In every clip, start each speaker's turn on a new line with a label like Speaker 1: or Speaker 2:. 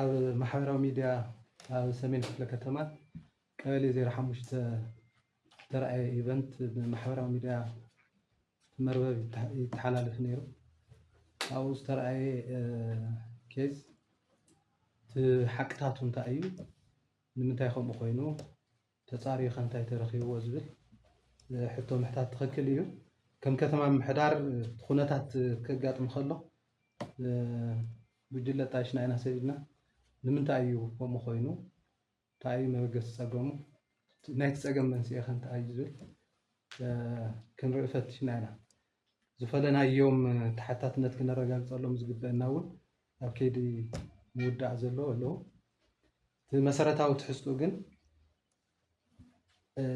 Speaker 1: ኣብ ማሕበራዊ ሚድያ ኣብ ሰሜን ክፍለ ከተማ ቀበሌ ዜሮ ሓሙሽተ ዝተርኣየ ኢቨንት ብማሕበራዊ ሚድያ መርበብ ይተሓላለፍ ነይሩ። ኣብኡ ዝተርኣየ ኬዝ እቲ ሓቅታቱ እንታይ እዩ ንምንታይ ከምኡ ኮይኑ ተፃርዩ ከ እንታይ ተረኪብዎ ዝብል ሕቶ ምሕታት ትክክል እዩ። ከም ከተማ ምምሕዳር እቲ ኩነታት ከጋጥም ከሎ ጉጅለ ጣይሽና ኢና ሰዲድና ንምንታይ እዩ ከምኡ ኮይኑ እንታይ እዩ መበገሲ ፀገሙ ናይቲ ፀገም መንስኤ ከ እንታይ እዩ ዝብል ክንርኢ ፈቲሽና ኢና። ዝፈለናዮም ተሓታትነት ክነረጋግፀሎም ዝግበእና እውን ኣብ ከይዲ ምውዳእ ዘሎ ኣለው። እቲ መሰረታዊ ትሕዝትኡ ግን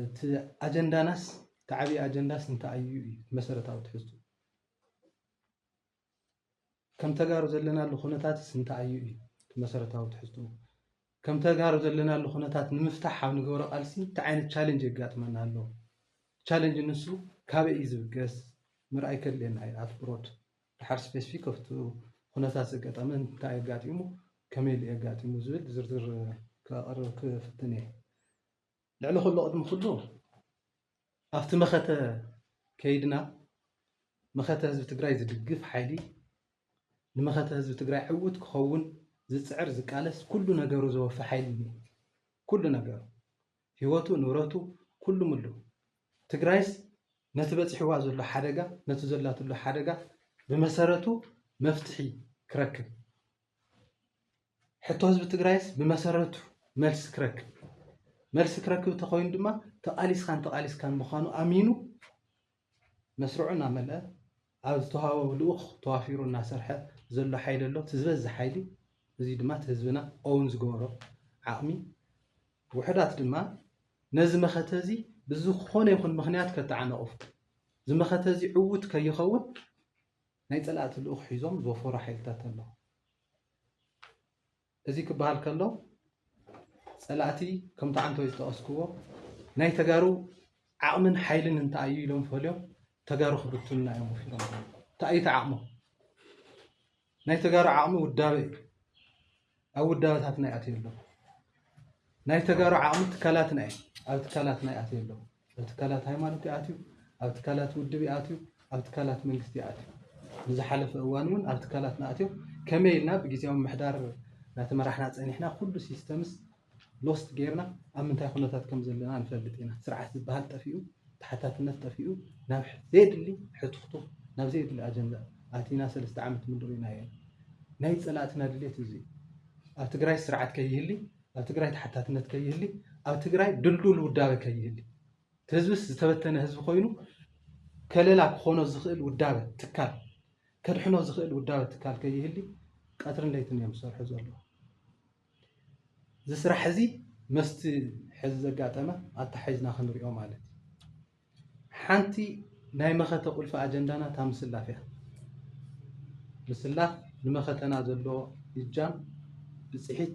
Speaker 1: እቲ ኣጀንዳናስ እቲ ዓብዪ ኣጀንዳስ እንታይ እዩ እዩ እቲ መሰረታዊ ትሕዝትኡ ከም ተጋሩ ዘለናሉ ኩነታትስ እንታይ እዩ እዩ እቲ መሰረታዊ ትሕዝትኡ ከም ተጋሩ ዘለናሉ ኩነታት ንምፍታሕ ኣብ ንገብሮ ቃልሲ እንታይ ዓይነት ቻሌንጅ የጋጥመና ኣሎ ቻሌንጅ ንሱ ካበይ እዩ ዝብገስ ምርኣይ ከድልየና እዩ ኣትኩሮት ድሓር ስፔስፊክ ኣብቲ ኩነታት ዘጋጠመ እንታይ እዩ ኣጋጢሙ ከመይ ኢሉ እዩ ኣጋጢሙ ዝብል ብዝርዝር ከቕርብ ክፍትን እየ። ልዕሊ ኩሉ ቅድሚ ኩሉ ኣብቲ መኸተ ከይድና መኸተ ህዝቢ ትግራይ ዝድግፍ ሓይሊ ንመኸተ ህዝቢ ትግራይ ዕውት ክኸውን ዝፅዕር ዝቃለስ ኩሉ ነገሩ ዘወፈ ሓይሊ እዩ ኩሉ ነገሩ ሂወቱ ንብረቱ ኩሉ ምሉ ትግራይስ ነቲ በፂሕዋ ዘሎ ሓደጋ ነቲ ዘላትሉ ሓደጋ ብመሰረቱ መፍትሒ ክረክብ ሕቶ ህዝቢ ትግራይስ ብመሰረቱ መልሲ ክረክብ መልሲ ክረክብ ተኮይኑ ድማ ተቃሊስካን ተቃሊስካን ምኳኑ ኣሚኑ መስርዑ እናመልኣ ኣብ ዝተውሃቦ ልኡኽ ተዋፊሩ እናሰርሐ ዘሎ ሓይሊ ኣሎ። እቲ ዝበዝሕ ሓይሊ እዙይ ድማ እቲ ህዝብና own ዝገበሮ ዓቕሚ ውሑዳት ድማ ነዚ መኸተ እዚ ብዝኾነ ይኹን ምኽንያት ከተዓናቕፉ እዚ መኸተ እዚ ዕዉት ከይኸውን ናይ ፀላእቲ ልኡኽ ሒዞም ዝወፈሩ ሓይልታት ኣለዉ። እዚ ክበሃል ከሎ ፀላእቲ ከምቲ ዓንተወይ ዝጠቐስክዎ ናይ ተጋሩ ዓቕምን ሓይልን እንታይ እዩ ኢሎም ፈልዮም ተጋሩ ክብትኑና እዮም ወፊሮም ዘለዉ። እንታይ እዩ እቲ ዓቕሞም? ናይ ተጋሩ ዓቕሚ ውዳበ እዩ። ኣብ ውዳበታትና ይኣትዩ ኣለዉ። ናይ ተጋሩ ዓቕሚ ትካላትና እየን። ኣብ ትካላትና ይኣትዩ ኣለዉ። ኣብ ትካላት ሃይማኖት ይኣትዩ፣ ኣብ ትካላት ውድብ ይኣትዩ፣ ኣብ ትካላት መንግስቲ ይኣትዩ። ንዝሓለፈ እዋን እውን ኣብ ትካላትና ኣትዮም ከመይ ኢልና ብግዝያዊ ምምሕዳር እናተመራሕና ፀኒሕና ኩሉ ሲስተምስ ሎስት ጌርና ኣብ ምንታይ ኩነታት ከም ዘለና ንፈልጥ ኢና። ስርዓት ዝበሃል ጠፊኡ፣ ተሓታትነት ጠፊኡ ናብ ዘየድሊ ሕቱኽቱኽ ናብ ዘየድሊ ኣጀንዳ ኣቲና ሰለስተ ዓመት ሙሉእ ርኢናዮ ኢና። ናይ ፀላእትና ድሌት እዚ እዩ። ኣብ ትግራይ ስርዓት ከይህሊ፣ ኣብ ትግራይ ተሓታትነት ከይህሊ፣ ኣብ ትግራይ ድልዱል ውዳበ ከይህሊ፣ እቲ ህዝብስ ዝተበተነ ህዝቢ ኮይኑ ከለላ ክኾኖ ዝኽእል ውዳበ ትካል ከድሕኖ ዝኽእል ውዳበ ትካል ከይህሊ ቀትርን ለይትን እዮም ዝሰርሑ ዘለዉ። እዚ ስራሕ እዚ መስቲ ሕዚ ዘጋጠመ ኣተሓሒዝና ክንሪኦ ማለት እዩ። ሓንቲ ናይ መኸተ ቁልፊ ኣጀንዳና እታ ምስላፍ እያ። ምስላፍ ንመኸተና ዘለዎ እጃም ብፅሒት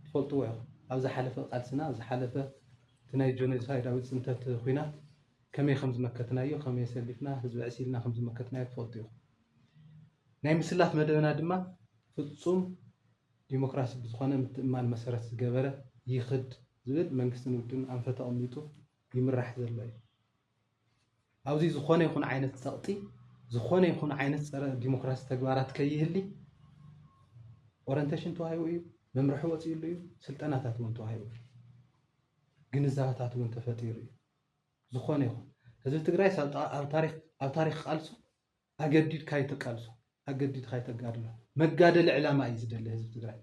Speaker 1: ትፈልጥዎ ኢኹም። ኣብ ዝሓለፈ ቃልስና፣ ኣብ ዝሓለፈ እቲ ናይ ጆኖሳይዳዊ ፅንተት ኹናት ከመይ ከም ዝመከትናዮ፣ ከመይ ሰሊፍና ህዝቢ ዕሲልና ከም ዝመከትናዮ ትፈልጡ ኢኹም። ናይ ምስላፍ መደብና ድማ ፍፁም ዲሞክራሲ ብዝኾነ ምትእምማን መሰረት ዝገበረ ይኽድ ዝብል መንግስትን ውድብን ኣንፈት ኣቐሚጡ ይምራሕ ዘሎ እዩ። ኣብዚ ዝኾነ ይኹን ዓይነት ጸቕጢ፣ ዝኾነ ይኹን ዓይነት ጸረ ዲሞክራሲ ተግባራት ከይህሊ ኦረንቴሽን ተዋሂቡ እዩ፣ መምርሒ ወፂኡሉ እዩ፣ ስልጠናታት እውን ተዋሂቡ እዩ። ግንዛበታት እውን ተፈጢሩ እዩ። ዝኾነ ይኹን ህዝቢ ትግራይ ኣብ ታሪክ ቃልሱ ኣገዲድካ ኣይተቃልሶ ኣገዲድካ ኣይተጋድሎ መጋደሊ ዕላማ እዩ ዝደሊ ህዝቢ ትግራይ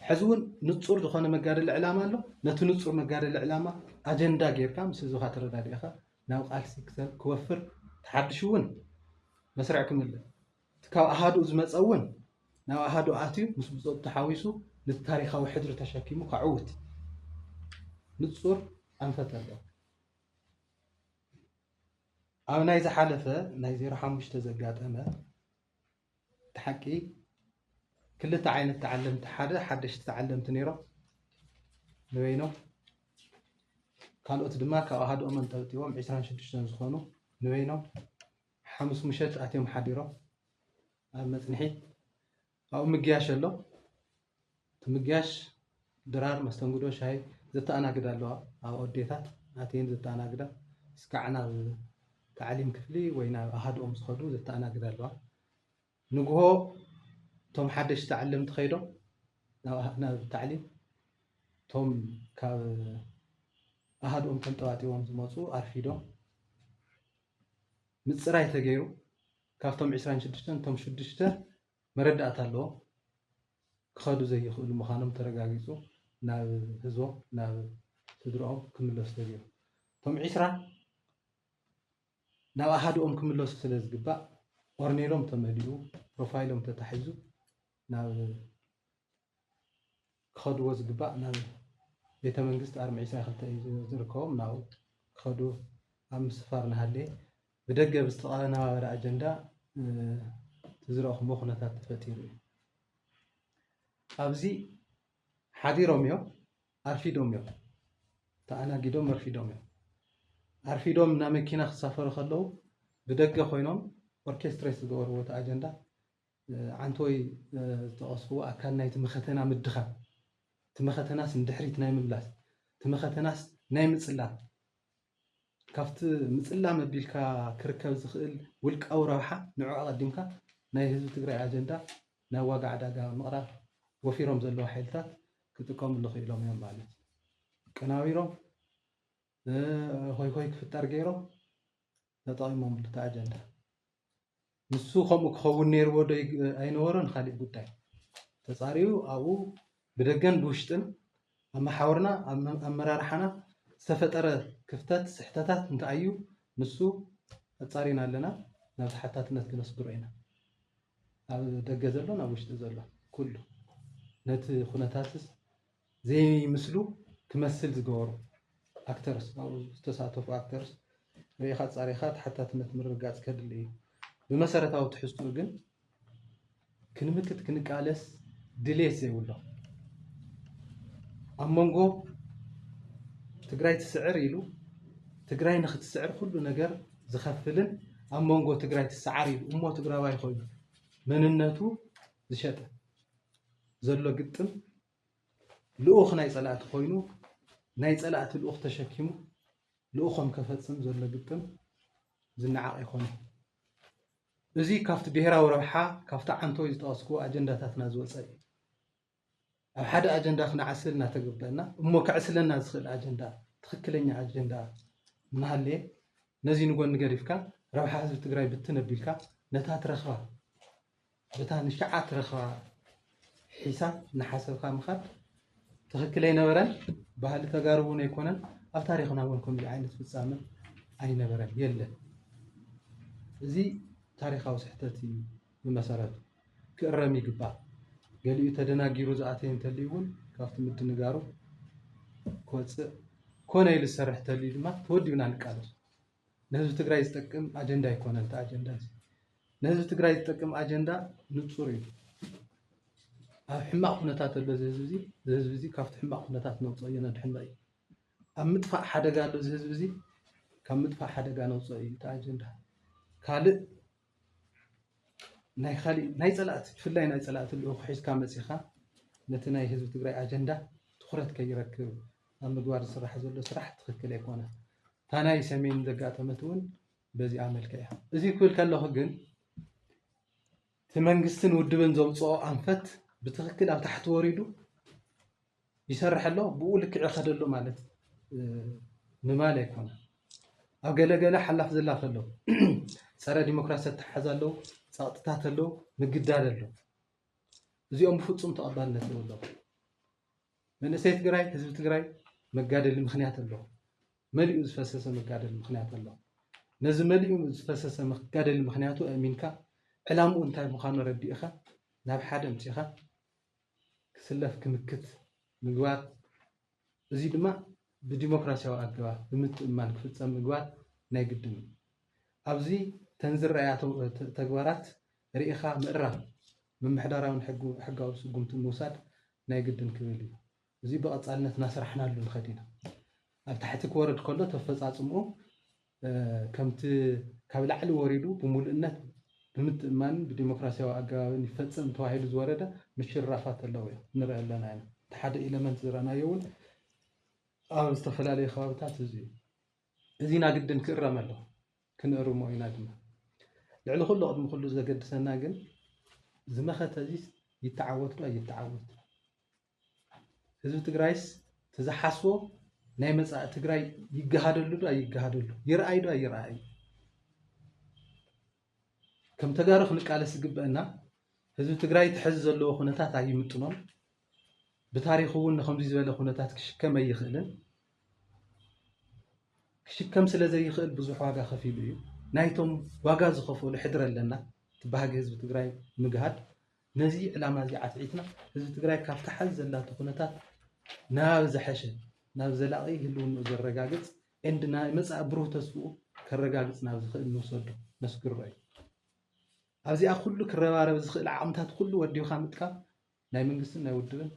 Speaker 1: ሕዚ እውን ንፁር ዝኾነ መጋደሊ ዕላማ ኣሎ ነቲ ንፁር መጋደሊ ዕላማ ኣጀንዳ ጌርካ ምስ ህዝብካ ተረዳዲእኻ ናብ ቃልሲ ክወፍር ተሓድሽ እውን መስርዕ ክምለ እቲ ካብ ኣሃዱኡ ዝመፀ እውን ናብ ኣሃዱ ኣትዩ ምስ ብፆቱ ተሓዊሱ ነቲ ታሪካዊ ሕድሪ ተሸኪሙ ከዕውት ንፁር ኣንፈት ኣለዎ ኣብ ናይ ዝሓለፈ ናይ ዜሮ ሓሙሽተ ዘጋጠመ እቲ ሓቂ ክልተ ዓይነት ተዓለምቲ ሓደ ሓደሽቲ ተዓለምቲ ነይሮም ንበይኖም ካልኦት ድማ ካብ ኣሃድኦም ኣንጠብጢቦም 26 ዝኾኑ ንበይኖም ሓሙስ ምሸት ኣትዮም ሓዲሮም ኣብ መፅንሒት ኣብኡ ምግያሽ ኣሎ። እቲ ምግያሽ ድራር መስተንግዶ ሻሂ ዘተኣናግዳ ኣለዋ። ኣብኡ ኣዴታት ኣትየን ዘተኣናግዳ እስካዕ ናብ ታዕሊም ክፍሊ ወይ ናብ ኣሃድኦም ዝኸዱ ዘተኣናግዳ ኣለዋ። ንግሆ እቶም ሓደሽቲ ተዓለምቲ ከይዶም ናብ ታዕሊም እቶም ካብ ኣሃድኦም ተንጠባጢቦም ዝመፁ ኣርፊዶም ምፅራይ ተገይሩ ካብቶም ዕስራን ሽዱሽተን እቶም ሽዱሽተ መረዳእታ ኣለዎም ክኸዱ ዘይኽእሉ ምዃኖም ተረጋጊፁ ናብ ህዝቦም ናብ ስድርኦም ክምለሱ ተገይሩ እቶም ዕስራ ናብ ኣሃድኦም ክምለሱ ስለ ዝግባእ ኦርኔሎም ተመሊኡ ፕሮፋይሎም ተታሒዙ ናብ ክኸድዎ ዝግባእ ናብ ቤተ መንግስት ኣርማ ዒስራን ክልተን እዩ ዝርከቦም ናብኡ ክኸዱ ኣብ ምስፋር እናሃለየ ብደገ ብዝተቐነባበረ ኣጀንዳ እቲ ዝረእኹምዎ ኩነታት ተፈጢሩ እዩ ኣብዚ ሓዲሮም እዮም ኣርፊዶም እዮም ተኣናጊዶም ኣርፊዶም እዮም ኣርፊዶም ናብ መኪና ክሳፈሩ ከለዉ ብደገ ኮይኖም ኦርኬስትሬት ዝገበርዎ እቲ ኣጀንዳ ዓንተወይ ዝጠቐስክዎ ኣካል ናይቲ መኸተና ምድኻም፣ እቲ መኸተናስ ንድሕሪት ናይ ምምላስ፣ እቲ መኸተናስ ናይ ምጽላም፣ ካብቲ ምጽላም ኣቢልካ ክርከብ ዝኽእል ውልቃዊ ረብሓ ንዑ ኣቐዲምካ ናይ ህዝቢ ትግራይ ኣጀንዳ ናብ ዋጋ ዕዳጋ ምቕራብ ወፊሮም ዘለዉ ሓይልታት ክጥቀምሉ ክኢሎም እዮም ማለት እዩ። ኣቀናቢሮም ሆይሆይ ክፍጠር ገይሮም ተጠቒሞምሉ እቲ ኣጀንዳ። ንሱ ከምኡ ክኸውን ነይርዎ ዶ ኣይነበሮን ኻሊእ ጉዳይ፣ ተጻርዩ ኣብኡ ብደገን ብውሽጥን ኣብ መሓውርና ኣብ ኣመራርሓና ዝተፈጠረ ክፍተት ስሕተታት እንተኣዩ ንሱ ኣጻሪና ኣለና ናብ ተሓታትነት ክነስግሮ ኢና። ኣብ ደገ ዘሎን ኣብ ውሽጢ ዘሎን ኩሉ ነቲ ኩነታትስ ዘይምስሉ ክመስል ዝገበሩ ኣክተርስ ኣብኡ ዝተሳተፉ ኣክተርስ ሪኢኻ ኣፃሪኻ ተሓታትነት ምርግጋፅ ከድሊ እዩ። ብመሰረታዊ ትሕዝትኡ ግን ክንምክት ክንቃለስ ድልየት ዘይብሎም ኣብ መንጎ ትግራይ ትስዕር ኢሉ ትግራይ ንክትስዕር ኩሉ ነገር ዝኸፍልን ኣብ መንጎ ትግራይ ትሰዓር ኢሉ እሞ ትግራዋይ ኮይኑ መንነቱ ዝሸጠ ዘሎ ግጥም ልኡኽ ናይ ፀላእቲ ኮይኑ ናይ ፀላእቲ ልኡኽ ተሸኪሙ ልኡኾም ከፈፅም ዘሎ ግጥም ዝነዓቕ ኣይኮነን። እዚ ካብቲ ብሄራዊ ረብሓ ካብቲ ዓንቶይ ዝጠቐስክዎ ኣጀንዳታትና ዝወፀ እዩ። ኣብ ሓደ ኣጀንዳ ክንዓስል እናተገበእና እሞ ከዕስለና ዝኽእል ኣጀንዳ ትኽክለኛ ኣጀንዳ እናሃለየ ነዚ ንጎኒ ገዲፍካ ረብሓ ህዝቢ ትግራይ ብትን ኣቢልካ ነታ ትረኽባ በታ ንሸዓ ትረኽባ ሒሳብ እናሓሰብካ ምኻድ ትኽክል ኣይነበረን። ባህሊ ተጋሩ እውን ኣይኮነን። ኣብ ታሪኽና እውን ከምዚ ዓይነት ፍፃመ ኣይነበረን፣ የለን። እዚ ታሪኻዊ ስሕተት እዩ ብመሰረቱ። ክእረም ይግባእ። ገሊኡ ተደናጊሩ ዝኣተየ እንተልዩ እውን ካብቲ ምድንጋሩ ክወፅእ፣ ኮነ ኢሉ ዝሰርሕ እንተልዩ ድማ ተወዲብና ንቃለሶ። ንህዝቢ ትግራይ ዝጠቅም ኣጀንዳ ኣይኮነን እቲ ኣጀንዳ እዚ። ንህዝቢ ትግራይ ዝጠቅም ኣጀንዳ ንፁር እዩ። ኣብ ሕማቕ ኩነታት ኣሎ እዚ ህዝቢ እዚ እዚ ህዝቢ እዚ ካብቲ ሕማቕ ኩነታት ነውፅኦ እዩ ነድሕኖ እዩ። ኣብ ምጥፋእ ሓደጋ ኣሎ እዚ ህዝቢ እዚ ካብ ምጥፋእ ሓደጋ ነውፅኦ እዩ እቲ ኣጀንዳ። ካልእ ናይ ካሊእ ናይ ፀላእቲ ብፍላይ ናይ ፀላእቲ ልኡኽ ሒዝካ መፂኻ ነቲ ናይ ህዝቢ ትግራይ ኣጀንዳ ትኹረት ከይረክብ ኣብ ምግባር ዝስራሕ ዘሎ ስራሕ ትኽክል ኣይኮነን። እታ ናይ ሰሜን ዘጋጠመት እውን በዚኣ መልክዕ እያ። እዚ ክብል ከለኹ ግን እቲ መንግስትን ውድብን ዘውፅኦ ኣንፈት ብትኽክል ኣብ ታሕቲ ወሪዱ ይሰርሕ ኣሎ ብኡ ልክዕ ይኸድ ኣሎ ማለት ምባል ኣይኮነን። ኣብ ገለ ገለ ሓላፍ ዝላፍ ኣሎ፣ ጸረ ዲሞክራሲ ኣተሓሕዛ ኣሎ፣ ጸቕጥታት ኣሎ፣ ምግዳድ ኣሎ። እዚኦም ብፍጹም ተቐባልነት የብሎም። መንእሰይ ትግራይ፣ ህዝቢ ትግራይ መጋደሊ ምክንያት ኣሎ፣ መሊኡ ዝፈሰሰ መጋደሊ ምክንያት ኣሎ። ነዚ መሊኡ ዝፈሰሰ መጋደሊ ምክንያቱ ኣእሚንካ ዕላምኡ እንታይ ምዃኑ ኣረዲእኻ ናብ ሓደ ኣምጺእኻ ክስለፍ ክንክት ምግባር፣ እዙይ ድማ ብዲሞክራሲያዊ ኣገባብ ብምትእምማን ክፍፀም ምግባር ናይ ግድን እዩ። ኣብዚ ተን ዝረኣያ ተግባራት ርኢኻ ምእራም፣ ምምሕዳራዊን ሕጋዊ ስጉምትን ምውሳድ ናይ ግድን ክብል እዩ። እዙይ ብቐፃልነት እናሰራሕናሉ ንኸድ ኢና። ኣብ ታሕቲ ክወርድ ከሎ ተፈፃፅምኡ ከምቲ ካብ ላዕሊ ወሪዱ ብምሉእነት፣ ብምትእምማንን ብዲሞክራሲያዊ ኣገባብን ይፈጸም ተባሂሉ ዝወረደ ምሽርራፋት ኣለዉ እዮም፣ ንርኢ ኣለና ኢና። እቲ ሓደ ኤለመንት ዝረኣናዮ እውን ኣብ ዝተፈላለዩ ከባብታት እዚ እዩ። እዚ ኢና ግድን ክእረም ኣለዎ፣ ክንእርሞ ኢና ድማ። ልዕሊ ኩሉ ቅድሚ ኩሉ ዘገድሰና ግን እዚ መኸተ እዚስ ይተዓወትዶ ኣይተዓወት? ህዝቢ ትግራይስ እቲ ዝሓስቦ ናይ መፃኢ ትግራይ ይገሃደሉ ዶ ኣይገሃደሉ ይርኣይ ዶ ኣይርኣይ ከም ተጋሩ ክንቃለስ ዝግበአና ህዝቢ ትግራይ እቲ ሕዚ ዘለዎ ኩነታት ኣይምጥኖን ብታሪኹ እውን ንከምዚ ዝበለ ኩነታት ክሽከም ኣይኽእልን ክሽከም ስለ ዘይኽእል ብዙሕ ዋጋ ከፊሉ እዩ ናይቶም ዋጋ ዝኸፈሉ ሕድሪ ኣለና እቲ ባህጊ ህዝቢ ትግራይ ምግሃድ ነዚ ዕላማ እዚ ኣትዒትና ህዝቢ ትግራይ ካብቲ ሐዚ ዘላቶ ኩነታት ናብ ዝሐሸ ናብ ዘላቒ ህልውንኡ ዘረጋግፅ and ናይ መፃኢ ብሩህ ተስፍኡ ከረጋግፅ ናብ ዝኽእል ንውሰዶ ነስግሮ እዩ። ኣብዚኣ ኩሉ ክረባረብ ዝኽእል ዓቕምታት ኩሉ ወዲብኻ ምጥቃም ናይ መንግስትን ናይ ውድብን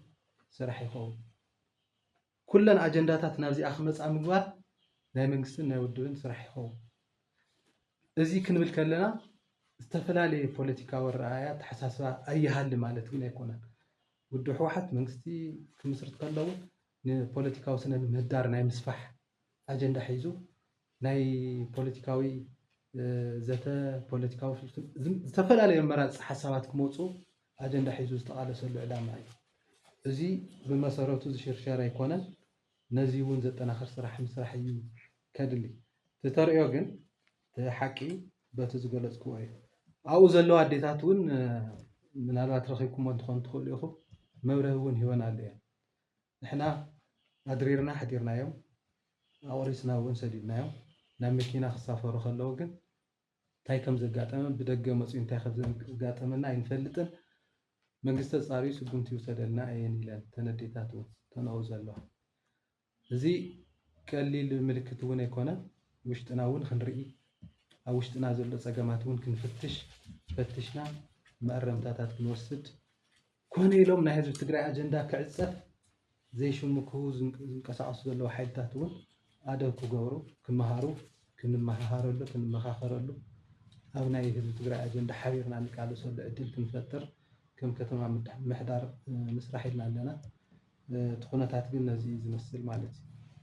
Speaker 1: ስራሕ ይኸውን። ኩለን ኣጀንዳታት ናብዚኣ ክመፃ ምግባር ናይ መንግስትን ናይ ውድብን ስራሕ ይኸውን። እዚ ክንብል ከለና ዝተፈላለየ ፖለቲካዊ ኣረኣእያ ኣተሓሳስባ ኣይሃሊ ማለት ግን ኣይኮነን። ውድብ ህወሓት መንግስቲ ክምስርት ከሎ እውን ንፖለቲካዊ ስነ ምህዳር ናይ ምስፋሕ፣ ኣጀንዳ ሒዙ ናይ ፖለቲካዊ ዘተ፣ ፖለቲካዊ ፍልፍል፣ ዝተፈላለዩ ኣመራርፃ ሓሳባት ክመፁ ኣጀንዳ ሒዙ ዝተቓለሰሉ ዕላማ እዩ። እዚ ብመሰረቱ ዝሽርሸር ኣይኮነን፣ ነዚ እውን ዘጠናኽር ስራሕ ምስራሕ እዩ ከድሊ። እቲ ተርእዮ ግን እቲ ሓቂ በቲ ዝገለፅክዎ እዩ። ኣብኡ ዘለዋ ኣዴታት እውን ምናልባት ረኺብኩሞ እንትኾኑ ትኽእሉ ኢኹም፣ መብርሂ እውን ሂበን ኣለዎ እየን። ንሕና ኣድሪርና ኣሕዲርናዮም፣ ኣቑሪስና እውን ሰዲድናዮም። ናብ መኪና ክሳፈሩ ከለዉ ግን እንታይ ከም ዘጋጠመን ብደገ መጽዩ እንታይ ከም ዘጋጠመና ኣይንፈልጥን። መንግስቲ ኣጻርዩ ስጉምቲ ይውሰደልና እየን ኢለን እተን ኣዴታት እውን ዝተንኦ ዘለዋ። እዚ ቀሊል ምልክት እውን ኣይኮነን። ውሽጥና እውን ክንርኢ፣ ኣብ ውሽጥና ዘሎ ጸገማት እውን ክንፍትሽ፣ ፈቲሽና መኣረምታታት ክንወስድ፣ ኮነ ኢሎም ናይ ህዝቢ ትግራይ ኣጀንዳ ክዕፀፍ ዘይሽምክሁ ዝንቀሳቐሱ ዘለዉ ሓይልታት እውን ኣደብ ክገብሩ፣ ክመሃሩ፣ ክንመሃሃረሉ፣ ክንመኻኸረሉ፣ ኣብ ናይ ህዝቢ ትግራይ ኣጀንዳ ሓቢርና እንቃለሰሉ ዕድል ክንፈጥር ከም ከተማ ምምሕዳር ንስራሕ ኢልና ኣለና። እቲ ኩነታት ግን ነዚ እዩ ዝመስል ማለት እዩ።